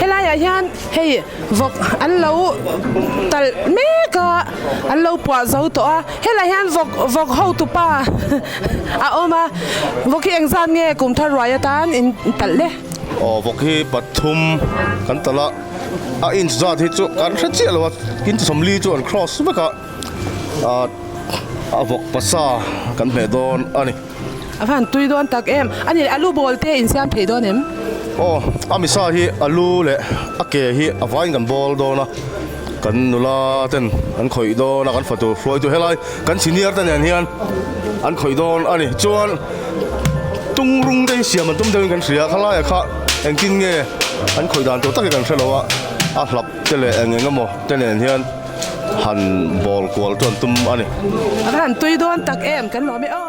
Helaiah hian hei vawk an lo talh mek a, an lo puah zo tawh a, helaiah hian vawk vawk hotu pa a awm a, vawk hi eng zan nge kum thar ruai atan in talh le? Aw vawk hi pathum kan talh a, a inch zat hi chu kan hre chiah lo a, inch sawm li chu an cross vek a, a vawk pasa kan hmeh dawn a ni. A han tui dawn tak em. A ni leh, a lu bawl te in siam theih dawn em? Aw, a misa hi a lu leh a ke hi a vain kan bawl dawn a, kan nula ten an khawih dawn a, kan fatu hruaitu helai kan senior te nen hian an khawih dawn a ni. Chuan tung rung te hi siam an tum deuh in kan hria, khalaia kha engtin nge an khawih dan tur tak hi kan hre lo a, a hlap. te leh eng eng emaw te nen hian han bawl kual chu an tum a ni. Ka han tui dawn tak em kan nuam e aw.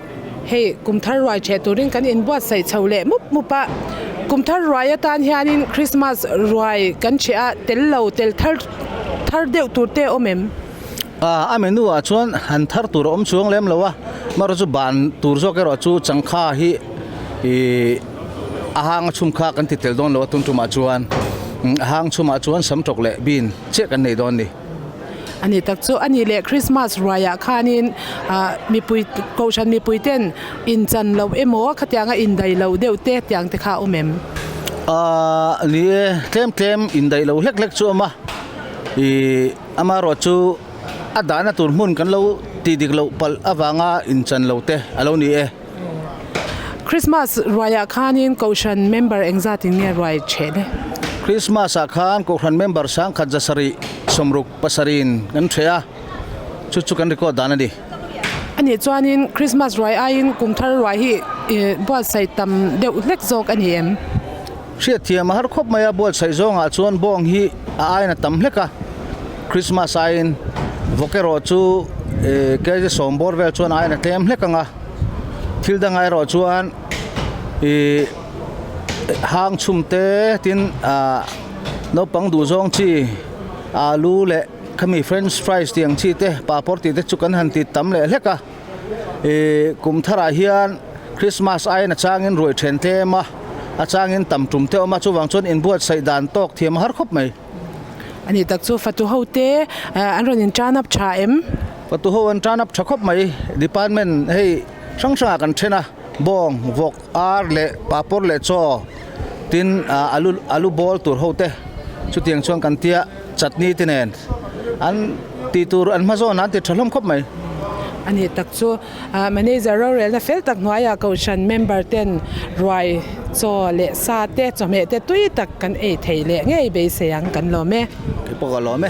Hei kum thar ruai chhe turin kan in buatsaih chho leh mup mup a. Kum thar ruai atan hianin Christmas ruai kan chhe a, tel lo tel thar thar deuh tur te awm em? A menu ah chuan han thar tur a awm chuang lem lo a, marawh chu ban tur zawk erawh chu changkha hi a hang a chhum kha kan ti tel dawn lo a tum tum ah chuan. A hang chhum ah chuan sam tawk leh bean chiah kan nei dawn a ni. Anih tak chu anih leh Krismas ruaiah khanin mipui kohhran mipui ten inchan loh emaw khatiang a indaih loh deuh te tiang te kha a awm em? Ahh ni e, tlem tlem indaih loh hlek hlek chu a awm a, ih ama erawh chu a dahna tur hmun kan lo ti dik loh palh avanga inchan loh te a lo ni e. Christmas ruaiah khanin Kohhran member engzat in nge ruai cheh de? Christmas ah khan Kohhran member sangkhat za sarih sawm ruk pasarih in kan hreh a, chu chu kan record dan a ni. A nih chuanin Christmas ruai aiin kum thar ruai hi buatsaih tam deuh hlek zawk a ni em? Hriatthiam a har khawp mai a, buatsaih zawngah chuan bawng hi a aina tam hlek a. Krismas aiin vawk erawh chu eeh Khaise sawmbawr vel chuan a aina tlem hlek ang a. Thil dang aerawh chuan ihh hang chhum te tin aah naupang duhzawng chi alu leh khami french fries tih ang chi te papawr tih te chu kan han tih tam leh hlek a. ihh kum thar ah hian Christmas aiin a chang in ruai then tlem a a chang in tam tum te a awm a chuvang chuan in buat saih dan tawk thiam a har khawp mai a ni tak chu fatu ho te ehh an rawn in tan up tha em fatu ho an tan up tha khawp mai department hei hrang hrang ah kan then a bawng vawk. Ar leh papawr leh chaw tin alu alu ball tur ho te chutiang chuan kan tia chutney te nen an tih tur an hma zawnah an ti tha hlawm khawp mai. A nih tak chu manager rorelna fel tak hnuaiah kohhran member ten ruai chaw leh sa te chawhmeh te tui tak kan ei thei leh ngei beisei ang kan lawm e. Kei pawh ka lawm e.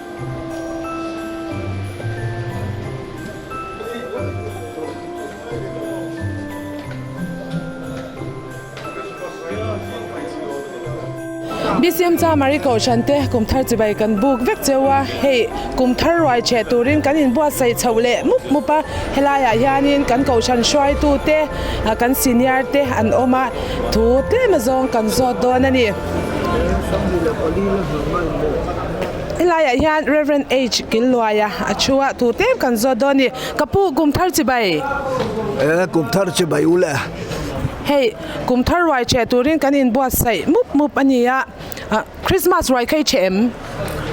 Bcm Chamari Kohhran te kum thar chibai kan buk vek cheu a, hei kum thar ruai chhe turin kan in buatsaih chho leh mup mup a, helaiah hianin kan kohhran hruai tu te kan senior te an awm a, thu tlem azawng kan zawt dawn a ni. I laiah hian Rev. H. Killuaia a thu a tur tlem kan zawt dawn ni. Ka pu kum thar chi bai. Eh, kum thar chi bai u le. Hei, kum thar ruai che turin kan in buat saih mup mup a ni a. Krismas ruai kha i che em?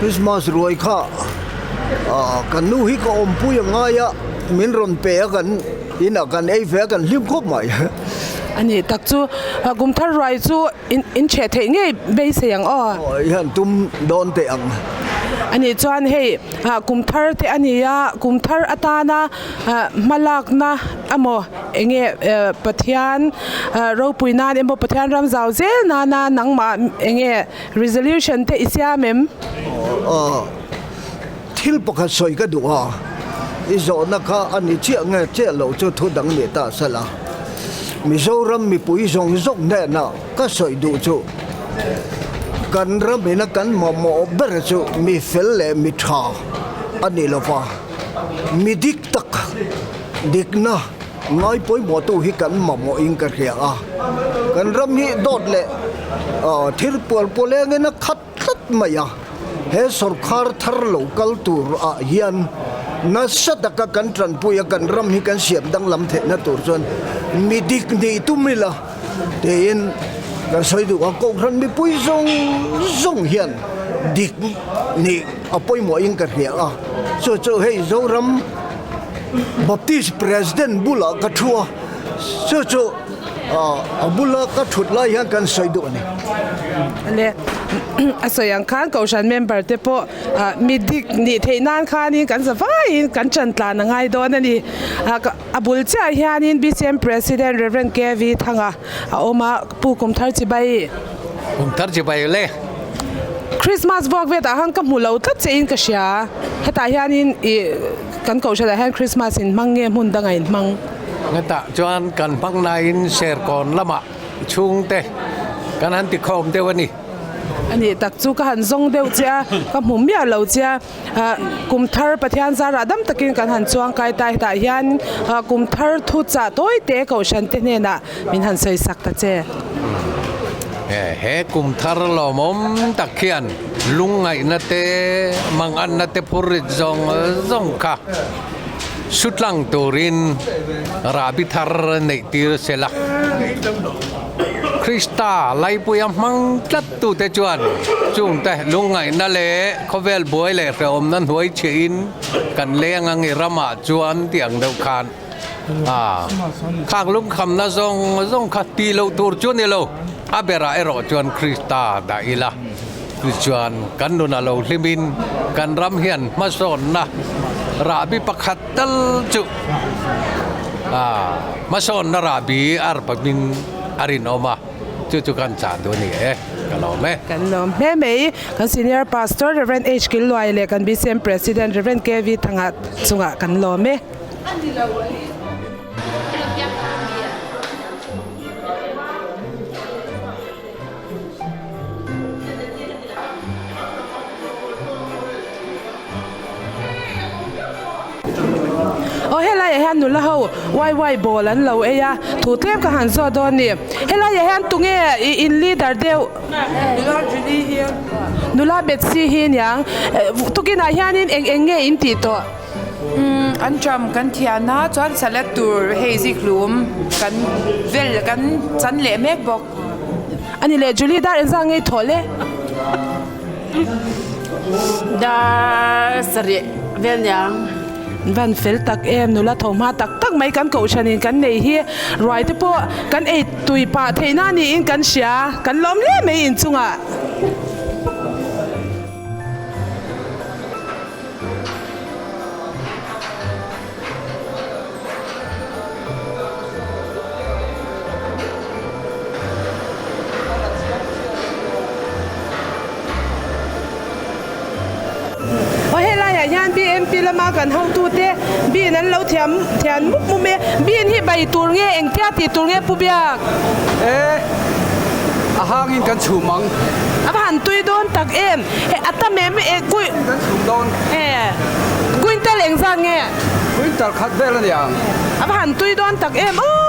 Krismas ruai kha kan nu hi ka awmpui a ngai a, min rawn pe a kan inah kan ei ve a, kan hlim khawp mai. A nih tak chu. Kum thar ruai chu. In chheh theih ngei beisei ang aw. Aw, i han tum dawn teh ang. A nih chuan hei kum thar te a ni a, kum thar atana hma lakna emaw eng nge Pathian ropui nan emaw Pathian ram zau zel nana nangmah eng nge resolution te i siam em? Aw. Thil pakhat sawi ka duh a, i zawhna kha a ni chiah nge chiah loh chu thu dang ni ta sal a, Mizoram mipui zawng zawk hnena ka sawi duh chu kan ram ina kan mamawh ber chu mi fel leh mi tha a ni lo va, mi dik tak dikna ngai pawimawhtu hi kan mamawh in ka hria a, kan ram hi dawt leh thir pual pawlengina khat. tlat mai a, he sawrkar thar lo kal tur ah hian nasa taka kan tanpui a, kan ram hi kan siam danglam theih na tur chuan mi dik ni tum ila tiin kan sawi duh a, kohhran mipui zawng zawng hian dik ni a pawimawh in ka hria a, chu chu hei Zoram Baptist President bulah ka thu a, chu chu. A bula ka thut lai hian kan sawi duh a ni. Le a sawi ang khan Kohhran member te pawh mi dik nih theih nan khanin kan za vaiin kan tantlan a ngai dawn a ni. A bul chiah hianin BCM President Rev. KV Thanga a awm a, Pu Kum Thar Chibai. Kum Thar Chibai le. Christmas vuak vetah khan ka hmu lo tlat che in ka hria. Hetah hianin kan Kohhran ah hian Christmas in hmang nge hmun danga in hmang? Hetah chuan kan hmang naiin serkawn lamah chhungte kan han ti khawm deuh a ni. A nih tak chu ka han zawng deuh che a, ka hmu miah lo che a. Kum thar Pathian zar rah dam takin kan han chuang kai ta hetah hian kum thar thu chah tawi te kohhran te hnenah min han sawi sak ta che. He kum thar lawmawm tak hian lungngaihna te manganna te phur rit zawng zawng kha. hrutlang turin Rabi thar neih tir sela Krista laipuia hmang tlat tu te chuan chung te lungngaihna leh khawvel buai leh hrehawmna hnuai chhe in kan leng angi rama chuan tiang deuh khan khang lungkhamna zawng zawng kha ti lo tur chu nilo a berah erawh chuan Krista dah ila. Chu chuan kan nun a lo hlim in kan ram hian hmasawnna rahbi pakhat tal chu hmasawnna rahbi ar pamin a rinawm a, chu chu kan chah duh a ni e, ka lawm e. Kan lawm hle mai. Kan Senior Pastor Rev. H. Kil Luai leh kan BCM President Rev. KV Thanga chungah kan lawm e. Aw helai ah hian nula ho wai wai bawl an lo ei a thu tlem ka han zawt dawn nih helai ah hian tunge in leader deuh nula betsi hi niang tukin ah hian eng eng nge in tih tawh an ṭam kan thiah na chuan salat tur hei zikhlum kan vel kan chan leh mek bawk. Ani leh Julie dar en zah ngei thawh le. Dar sarih vel niang. Van fel tak em nula tho hma tak tak mai kan koh than in kan neih hi ruai te pawh kan ei tui pah theih na ni in kan hria kan lawm le mai in chung ah Helaiah hian BNP lama kan hotute bean an lo thiam thian mup mup mai a, bean hi bai tur nge engtia ti tur nge Pu Biak? Ee, a hangin kan chhum ang. A va han tui dawn tak em! He a tam em e. Kuih. Kan kan chhum dawn. He Kuintal eng zat nge? Kuintal khat vel a ni ang. A va han tui dawn tak em u.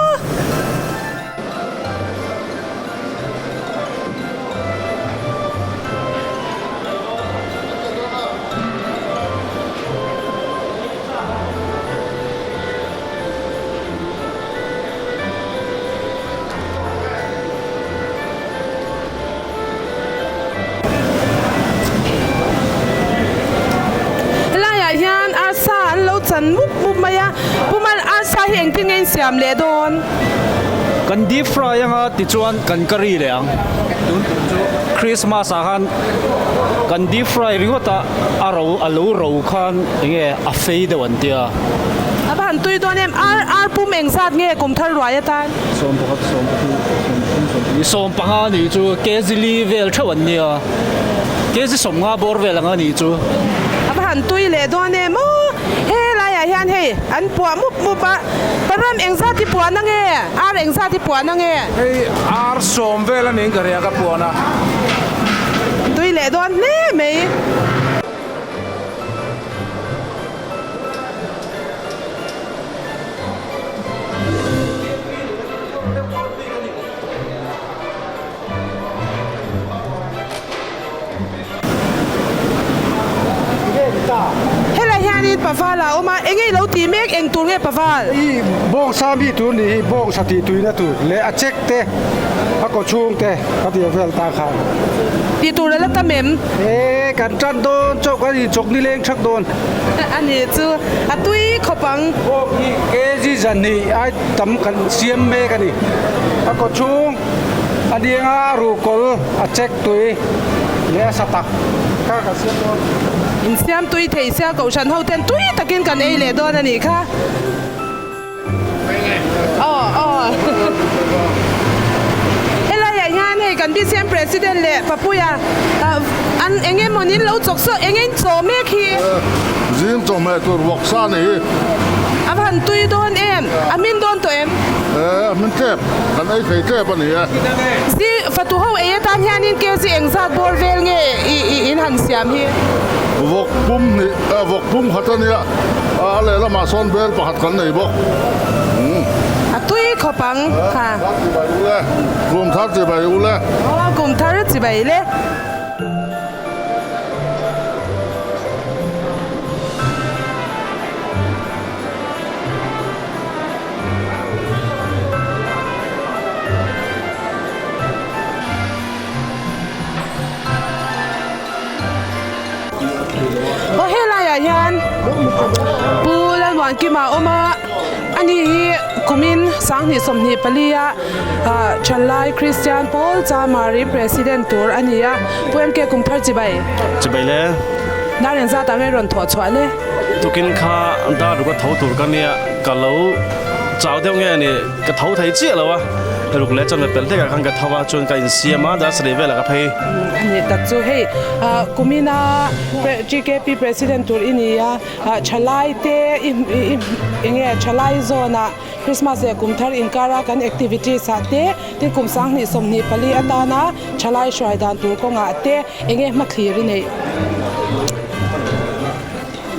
Helaiah hian arsa an lo chan mup mup mai a. Pumal, Arsa hi engtin nge in siam leh dawn? Kan deep fry anga tichuan kan ka ri leh ang. Tun tur chu Christmas ah khan kan deep fry ringawt a, a ro, a lo ro khan eng nge a fei deuh an tia. A va han tui dawn em? Ar, Ar pum engzat nge kum thar ruai atan? Sawm pakhat sawm pahnih sawm pathum sawm pahnih. Sawm panga nih chu kg li vel theuh an nia, kg sawm nga bawr vel anga nih chu. A va han tui leh dawn em aw, helaiah hian hei an puah mup mup a, param engzat i puahna nge, ar engzat i puahna nge? Hei ar sawm vel a niin ka ria ka puahna. Tui leh dawn hle mai. Helai hianin paval a awm a, eng nge i lo tih mek? Eng tur nge paval? I bawngsa mi tur ni hi bawngsa tih tuihna tur leh a check te a kawchhung te ka ti vel ta kha. Ti tur a la tam em? He kan ṭan dawn chauh kan inchawk ni leng ṭhak dawn. A ni chu a tui khawp ang. Bawk hi kg zahnih ai tam kan siam mek a ni. A kaw chhung a ni anga a ru kawl, a chek tui leh a sa tak kha kan siam dawn. Insiam tui thei sia kohhran ho ten tui takin kan ei leh dawn a nih kha. Helaiah hian hei kan BCM President leh Papuia an eng emaw niin lo chawk sawh eng a inchawh mek hi. Zing chawh hmeh tur vawk sa a ni. A han tui dawn em? A hmin dawn tawh em? Ee, a hmin tlep. Kan ei thei tlep a ni e. Zing, Fatuho ei atan hianin KZ engzat bawr vel nge in han siam hi? Vawk pum hnih. Aa vawk pum khat a nia. A lehlamah sawn bel pakhat kan nei bawk. Umm. A tui khawp ang. Ha. Kum thar chi bai u le. Kum thar chi bai u le. Aw, kum thar chi bai le. Aw he laiah hian Pu Lalmuankima a awm a, ani hi kumin sanghnih sawmhnih pali a Ṭhanlai Kristian pawl Chamari President tur a ni a, Pu MK kum thar chi bai? Chi bai le. Dar in zat ah rei rawn thawh chhuah le. Tukin kha dar duh ka tho tur ka nia, ka lo chau deuh ngei a ni. Ka tho thei chiah lo a, ka ruk leh chuan ka pel hlekah khan ka tho a, chuan ka insiam a, darsalei velah ka phei. A nih tak chu hei kumina GKP president tur i ni a, thalai te i nge thalai zawnah Christmas leh kum thar inkara kan activities ah te, tin kum sang hnih sawm hnih pali atana thalai hruai dan tur kawngah te enge hmathlir i neih.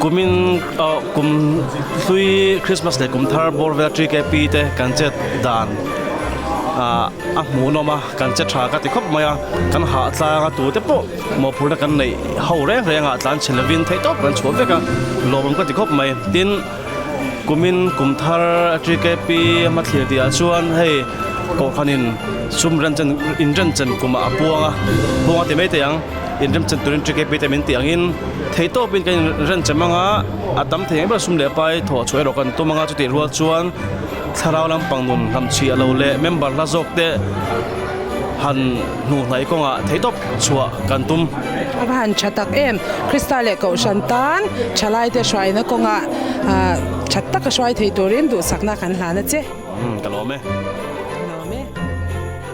Kumin kum hlui Christmas leh kum thar bawr vela ṭi ke pi te kan chet dan a hmuhnawm a, kan che ṭha ka ti khawp mai a, kan hahtlang a tute pawh mawhphurhna kan neih ho reng reng a, tlan chhe lovin theih tawp kan chhuah vek a, lawmawm ka ti khawp mai. Tin, kumin kum thar a ṭi ke pi a hma thlir tihah chuan hei Kawhkhanin sum renchen, inrenchen kumah a puang a, puang a ti mai teh ang. in remchan turin ṭi kep hi tlem in tih ang in theitawp in kan in remchan mang a a tam thei ang ber a sum leh pai thawh chhuah erawh kan tum ang a chutih rual chuan thlarau lampang nun hnam chhia lo leh member hla zawk te han hnuhnai kawng ah theitawp chhuah kan tum a va han ṭha tak em krista leh kohhran tan ṭha lai te hruai na kawng ah ah ṭhat tak a hruai thei turin duhsak na kan hlan a che.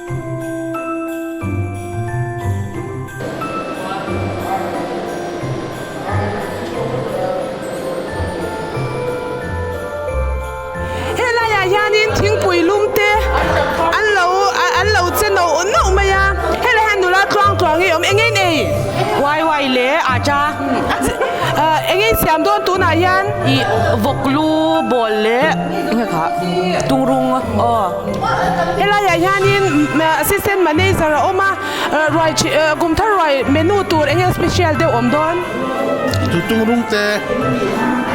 Helaiah hianin thingpui lumte an lo an lo che nauh nauh mai a, helaiah hian nula tluang tluang ngei awm engei nei uai uai leh a ta engei siam dawn tunah hian ih vawk lu bawl leh engemawh tungrung aw. Helaiah hianin Assistant Manager a awm a, ruai ṭhi ah kum thar ruai menu tur eng eng special deuh awm dawn? Chu tungrung te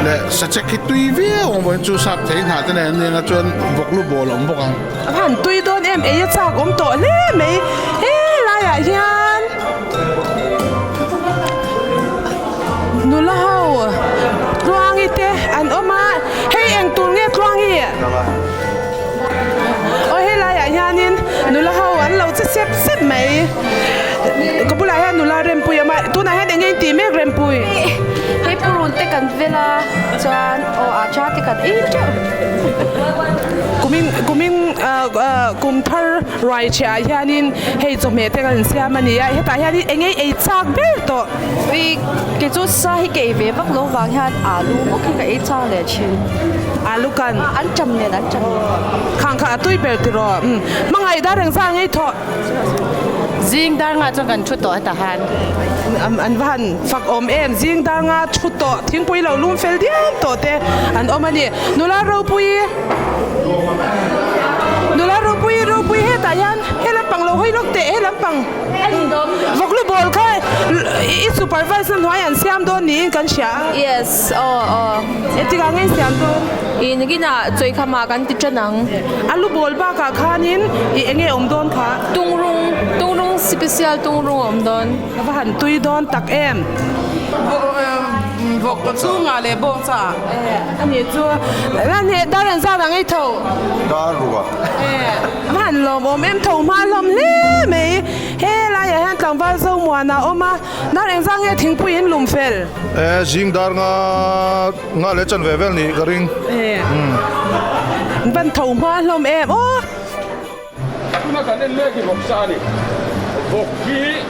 leh sachek hi tui viau ang vawin chu sap thei hnah te nen an ni ang a, chuan vawklu bawl a awm bawk ang. Van tui dawn em, eia chak awm tawh hle mai helaiah hian nula ho tluangi te an awm a, hei eng tur nge tluangi? Aw helaiah hianin nula ho an lo che sep sep mai. Ka bulah hian nula Rempuii a awm a, tunah hian enge intih mek Rempuii? Hei purun te kan vel a chuan aw a ṭa te kan ei teuh. Kumin kumin ahh kum thar ruaichhiahah hianin hei chawhmeh te kan siam a ni a, hetah hianin enge ei chak ber tawh. Ui, kei chu sa hi kei ve vak lo vang hian alu mawk hi ka ei chang leh thin. Alu kan. An cham nen, an cham nen. Khang kha a tui ber ti rawh. Hmangaih dar reng zan ngei thawh. Zing dar nga chuan kan thu tawh heta han. An va han fak awm em. Zing dar nga thu tawh, thingpui lo lum fel diam tawh te an awm a ni. Nula ropui, nula ropui, ropui hetah hian he lampang lo hawi lawk teh, he lampang. Vawklu bawl kha i supervise na hnuai an siam dawn niin kan hria a. Yes, aw aw. E tikah nge i siam dawn? I nikinah chawi kha mah kan ti ṭan ang. A lu bawl bakah khanin i enge a awm dawn kha? Tungrung, tungrung sipasial tungrung a awm dawn. Ka va han tui dawn tak em. Vawk chungah leh bawng caah. E, anih chu. Ral hne, dar an zat ang ei tho. Dar ruah. E. Hman lawm awm em tho hma hlawm hle mai i he laiah hian tlangval zo muan a awm a, dar eng zang nge thingpui in lum fel? Ee zing dar nga nga leh chan ve vel nih ka ring. Ee hman tho hma hlawm em aw. Tuna kan en mek hi vawk sa a ni. Vawk hi.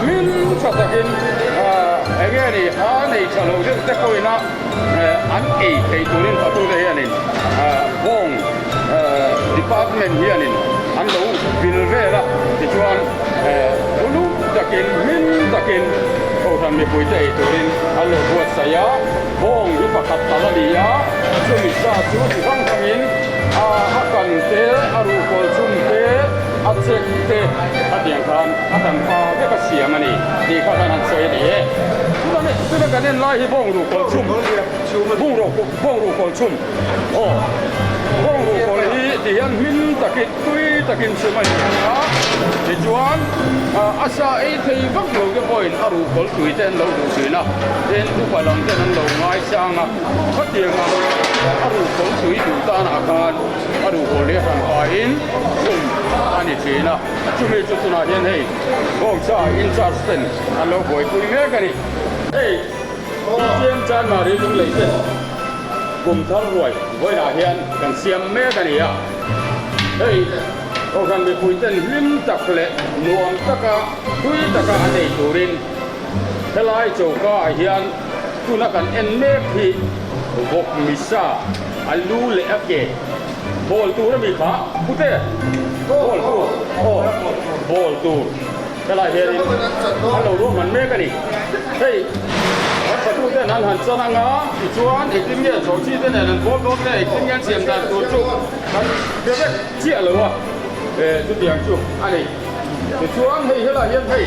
hlim tha takin eng nge a nih a nei tha lo deuh te pawhin a an ei thei turin patu te hianin bawng department hianin an lo vil vel a tichuan uluk takin hlim takin Kohhran mipui te ei turin an lo buatsaih a bawng hi pakhat tal a ni a chumi sa chu chi hrang hrangin a kan te a ruh kawl chhung te. A check te a tiang khan a kan pha vek a siam a ni tih kha kan han sawi a ni e. Tuna leh tuna kan en lai hi Bawngru Kawlchhum, Bungraw Bawngru Kawlchhum aw Bawngru Kawl hi ti hian hming takin tui takin chhum a ni ang a, tichuan a sa ei phei vak lo te pawhin a ruh kawl tui te an lo duh thin a, then upa lam ten an lo ngaisang a, khatianga a ruh kawl tui duh tan ah khan, A ruh pawl hi hran pa in kum a ni thin a, chumi chu tunah hian hei bawng cha in charge ten an lo buai pui mek a ni. Hei Puithiam Chanmari lunglei ten kum thar ruai vawilah hian kan siam mek a ni a, hei Kohhran mipui ten hlim tak leh nuam taka hlui taka an nei turin helai choka ah hian, Tuna kan en mek hi vawk misa a lu leh a ke bawl tur a mi kha pute bawl tur aw bawl tur helai hian in an lo ruahman mek a ni hei Hmarhfatu ten an han chan anga tichuan engtin nge chhawhchhi te nen an pawl dawn te engtin nge an siam dan tur chu kan hria vek chiah lo a e chutiang chu a ni tichuan hei helai hian hei.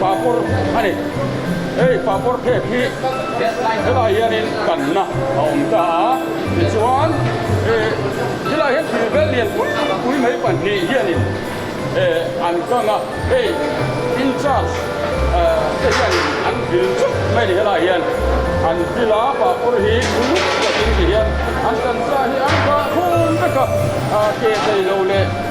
Papawr a ni. Hei papawr phek hi helaiah hianin kanna a awm ta a, tichuan ti laiah hian thil vel lian pui pui mai pahnih hianin an kang a, hei in charge te hianin an vil chauh mai a ni. Helaiah hian an vil a, papawr hi uluk pawhin tihian an kan sa hi an dah khum vek a, ke tei lo leh.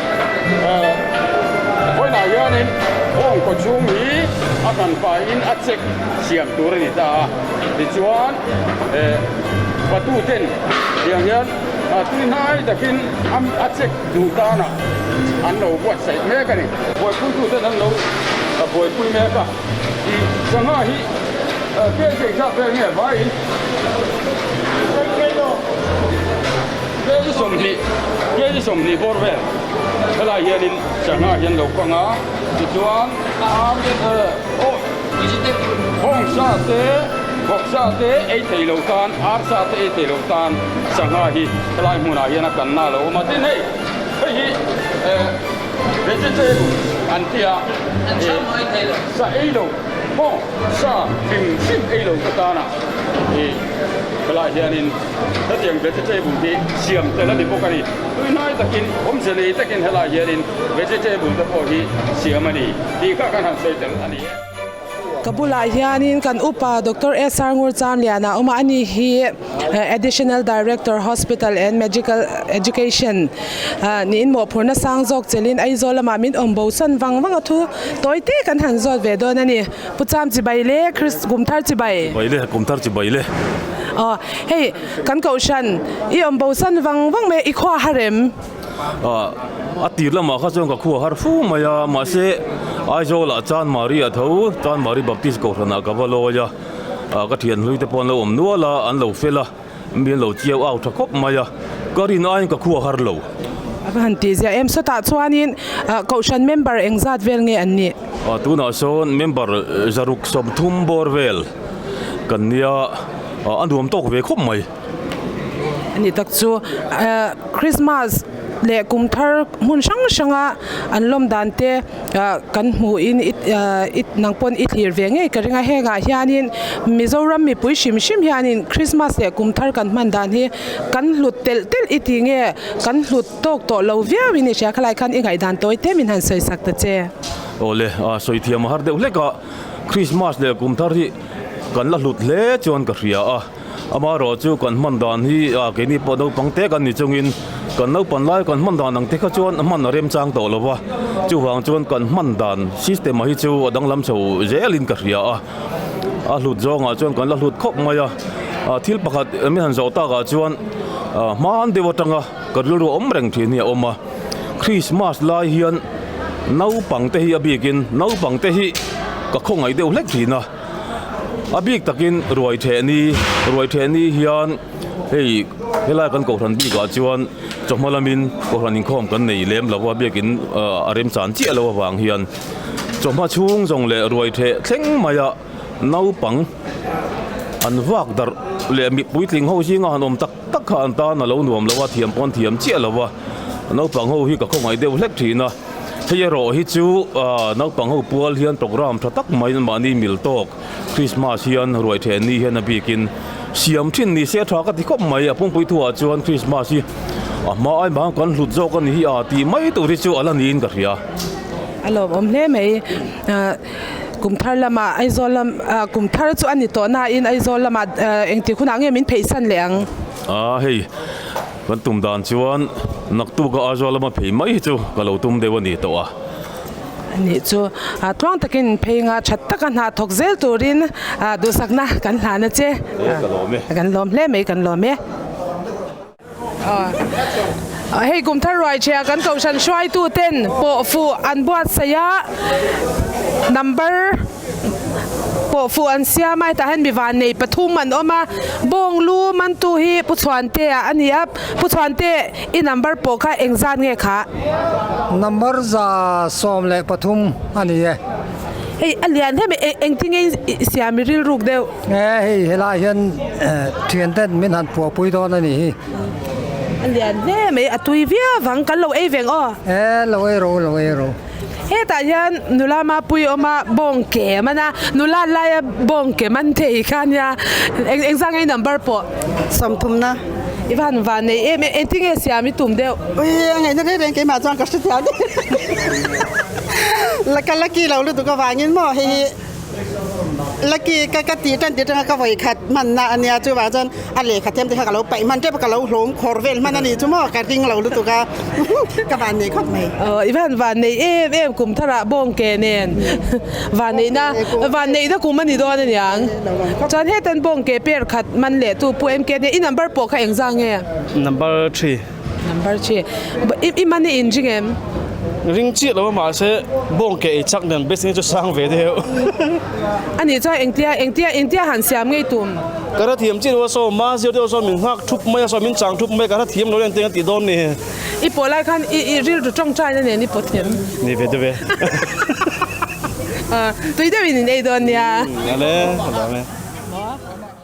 Vawiinah hianin Kawngkaw chhung hi a kan faiin a check siam tur a ni ta a, tichuan Batu ten tiang hian tui hnai takin a check duh tana an lo buatsaih mek a ni. Buaipuitu ten an lo buaipui mek a, tih sangha hi biaithiam chak vel nge vaiin. Hei chu sawmhnih, hei chu sawmhnih bawr vel helai hianin Changha hian lo kang a, tichuan Hawngsa te, Vawksa te ei thei lo tan, Arsa te ei thei lo tan Changha hi helai hmunah hian a kanna a lo awm a, tin hei hei hi Vegetarian an ti a, sa ei lo, haw sa hlim hlim ei lo te tana helai hianin. Hetiang vegetable hi siam tel a ni bawk a ni. Tui hnai takin awmze nei takin helai hianin vegetable te pawh hi siam a ni tih kha kan han sawi tel a ni e. Ka bulah hianin kan upa Doctor SR Ngurchamliana awm a, a ni hi Additional Director Hospital and Medical Education niin mawhphurhna sang zawk chelhin Aizawl lamah min awm bosan vang vang a thu tawite kan han zawt ve dawn a ni. Pu Cham chibai le Christ kum thar chibai. Chibai le kum thar chibai le. Aw hei kan kohhran i awm bosan vang vang mai i khua har em? Aw a tir lamah kha chuan ka khua har fu mai a mahse Aizawl ah Chan Mari a tho Chan Mari Baptist kohhran ah ka va lawi a ka thianhlui te pawh an lo awm nual a an lo fel a. Mi an lo chiau au tha khawp mai a, ka rin aiin ka khua har lo. A va han tih ziah em saw tah chuanin Kohhran member eng zat vel nge an nih? A tunah sawn member zaruk sawmthum bawr vel kan nia, a nuam tawk ve khawp mai. A nih tak chu, Krismas leh kum thar hmun hrang hranga an lawm dan te, kan hmuh in nang pawn i thlir ve ngei ka ring a hengah hian in mizoram mipui hrim hrim hian in krismas leh kum thar kan hman dan hi kan hlut telh telh i ti nge kan hlut tawk tawh lo viau in i hriat kha lai khan i ngaihdan tawi te min han sawi sak ta che. Awle a sawi thiam a har deuh hlek a krismas leh kum thar hi kan la hlut hle chuan ka hria a. Ama erawh chu kan hman dan hi a keini pawh naupang te kan ni chungin kan lo pan lai kan hman dan ang te kha chuan a hman a remchang tawh lo va, chuvang chuan kan hman dan system-a hi chu a danglam chho zelin ka hria a, a hlut zawngah chuan kan la hlut khawp mai a, thil pakhat min han zawh takah chuan hman deuh atanga ka rilru awm reng thin hi a awm a, Krismas lai hian naupang te hi a bikin naupang te hi ka khawngaih deuh hlek thin a. A bik takin Ruaithehni, Ruaithehni hian hei helai kan Kohhran bikah chuan chawhma lamin Kohhran inkhawm kan nei lem lo a, biakin a remchan chiah lo avang hian chawhma chhung zawng leh Ruaitheh thleng maia naupang an vak darh leh mipuitling ho zinga han awm tak-- tak kha an tan a lo nuam lo a, thiam pawh an thiam chiah lo a, naupang ho hi ka khawngaih deuh hlek thin a, hei erawh hi chu naupang ho pual hian programme tha tak mai mahni mil tawk Christmas hian ruai then ni hian a bikin siam thin ni se tha ka ti khawp mai, a pumpuii thu ah chuan Christmas hi a hma ai mang kan hlut zawk a ni hi a tih mai tur hi chu a la niin ka hria. A lawmawm hle mai. Kum thar lama Aizawl lam ah kum thar chu ani tawh nain Aizawl lama engti hunah nge min pheihsan leh ang? A, hei kan tum dan chuan naktuk a Aizawl lama phei mai hi chu ka lo tum deuh a ni tawh a. Nih chu a tluang takin in phei nga that tak a hna thawk zel turin duhsakna kan hlan a che. Kan lawm e. Kan lawm hle mai kan lawm e. Hei kum thar ruaichhia kan kohhran hruaitu ten pawh fuh an buat saih a, number pawh fuh an siam a, hetah hian mi vannei pathum an awm a, Bawnglu mantu hi Pu Chhuante a ni a, Pu Chhuante i number pawh kha eng zat nge khah? Number za sawm leh pathum a ni e. Hei a lian hle mai, engtin nge i siam i rilruk deuh? He hei helai hian thian ten min han puah pui dawn a nih hi. A lian hle mai a tui viau vang kan lo ei veng aw. He lo ei ro lo ei ro. Hetah hian nula mapui awm a bawng ke a man a nula laia bawng ke man thei khan nia eng eng zang i number pawh sawmthum na i van va nei em em engtin nge siam i tum deuh. Ui a ngaihna hle reng keimah chuan ka hre thliah daih la ka lucky lo lutuk avangin maw hehe. Lucky ka ka tih tan tih tanga ka vawi khat hman na a nia chuvang chuan a lehkha thiam te kha ka lo paih hman tep a ka lo hlawm khawr vel hman a ni chu maw ka ring lo lutuk a ka van nei khawp mai. Aww i van van nei em em kum thar ah bawng ke nen van nei na van nei na kum a ni dawn a niang chuan heta bawng ke per khat hman leh tu pu MK nen i number pawh kha eng zang nge? Number three. Number chi i man i in ring em? Ring chiah lo mahse bawng ke ei chak nen best-in chu sang ve deuh. Ani chuan engtia engtia engtia han siam ngei tum? Ka hre thiam chiah loh a saw ma zir deuh saw min nghak thup mai a saw min chang thup mai ka hre thiam lo reng teng a ti dawn ni. I pawh lai khan i i rilru tawng tana nen i pawh thiam. Ni ve deuh e. Tui deuhin in ei dawn nia. Vale.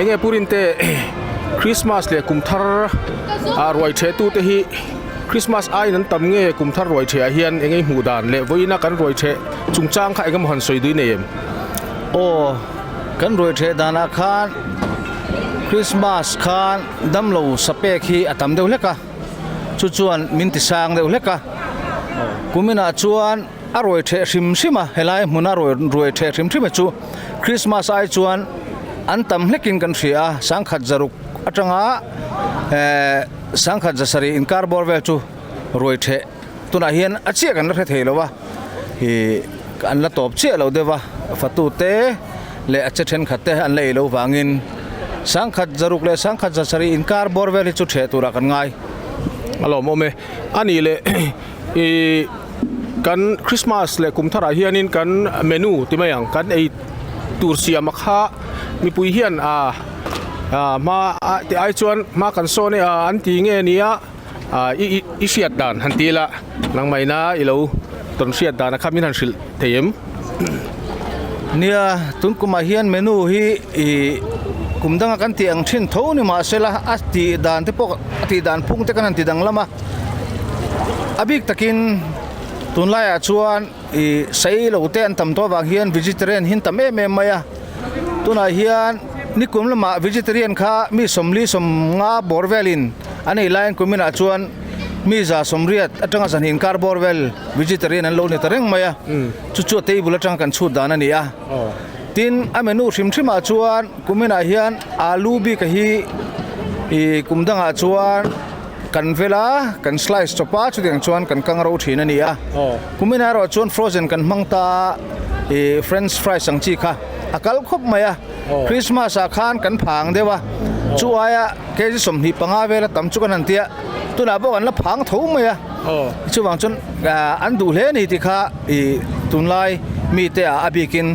Enge purin te Christmas leh kum thar a ruai the tu te hi Christmas aiin an tam nge kum thar ruai the ah hian enge hmuh dan leh vawiin a kan ruai the chung chang kha engemaw han sawi dui nei em? Aw kan ruai the dan ah khan Christmas khan damlo sapek hi a tam deuh hlek a chu chuan min ti sang deuh hlek a kum in ah chuan A ruai theh hrim hrim a, helai hmun a rawi ruai theh hrim hrim e chu Krismas ai chuan an tam hlekin kan hria a, sangkhat zaruk atanga eeh sangkhat zasarih inkar bawr vel chu ruai theh tunah hian a chiah kan la hre thei lo a, ih an la tawp chiah lo deuh a, a fatu te leh a che thenkhat te an la ei lo vangin sangkhat zaruk leh sangkhat zasarih inkar bawr vel hi chu theh turah kan ngai alawm awm e, a nih leh. I kan Christmas leh kum tharah hianin kan menu ti mai ang kan ei tur siam a kha mipui hian ah ah hma ah ti ai chuan hma kan sawn e a an ti nge nia ah i i hriat dan han ti ila nangmahna i lo tawn hriat dan a kha min han hrilh. thei em? Nia, tun kumah hian menu hi ih kum danga kan tih ang thin tho ni mah sela a tih dan te pawh a tih dan phung te kan han ti dang lam a, a bik takin tunlaiah chuan ih sailo te an tam tawh avang hian vegetarian hi an tam em em mai a, tunah hian nikum lamah vegetarian kha mi sawmli sawm nga bawr velin a nei laiin kuminah chuan-- mi za sawmriat atanga zan hi inkar bawr vel vegetarian an lo ni ta reng mai a chu chu a table atanga kan chhut dan a ni a tin a menu hrim hrim ah chuan kumin ah hian alu bik a hi ih kum dang ah chuan kan vel a kan slice chawp a chu ti ang chuan kan kang ro thin a ni a kumin ah erawh chuan frozen kan hmang ta a ih french fries ang chi kha a kal khawp mai a. Krismas ah khan kan phang deuh a, chu aia kg sawmhnih panga vel a tam chu kan han tia, tunah pawh kan la phang tho mai a, chuvang chuan an duh hle ni ti kha i tunlai mite ah a bik in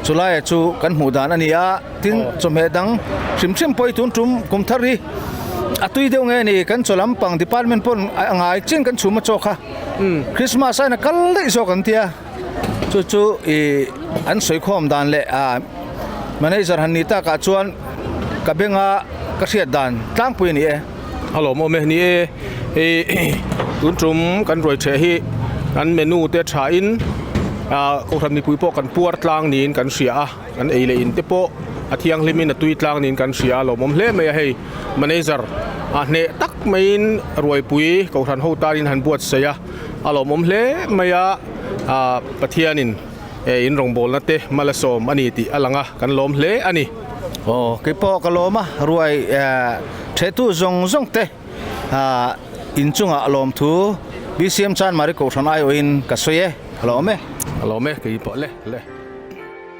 chu laia chu kan hmuh dan a ni a, tin chawhmeh dang hrim hrim pawi tun tum kum thar hi a tui deuh nge ni, kan chaw lampang department pawn a ngai chin kan chhum a chawk kha, Krismas a aina kal daih zawk an tia. Chu chu i an sawikhawm dan leh a manager han ni takah chuan ka benga ka hriat dan tlangpui a ni e. A lawm awm e ni e. Hei tun tum kan ruai chhe hi an menu te thain kohhran mipui pawh kan puar tlang niin kan hria a, kan ei leh in te pawh a thianghlimin a tui tlang niin kan hria a lawm awm hle mai a hei manager a hneh tak maiin ruaipui kohhran ho tanin han buatsaih a. A lawmawm hle mai a, ah Pathianin eh in rawngbawlna te hma la sawm a ni tih a lang a, kan lawm hle a ni. Aw, kei pawh ka lawm a, ruai eh ṭhetu zawng zawng te ah inchungah lawm thu BCM Chanmari Kohhran aiawhin ka sawi e, a lawm e. A lawm e, kei pawh le le.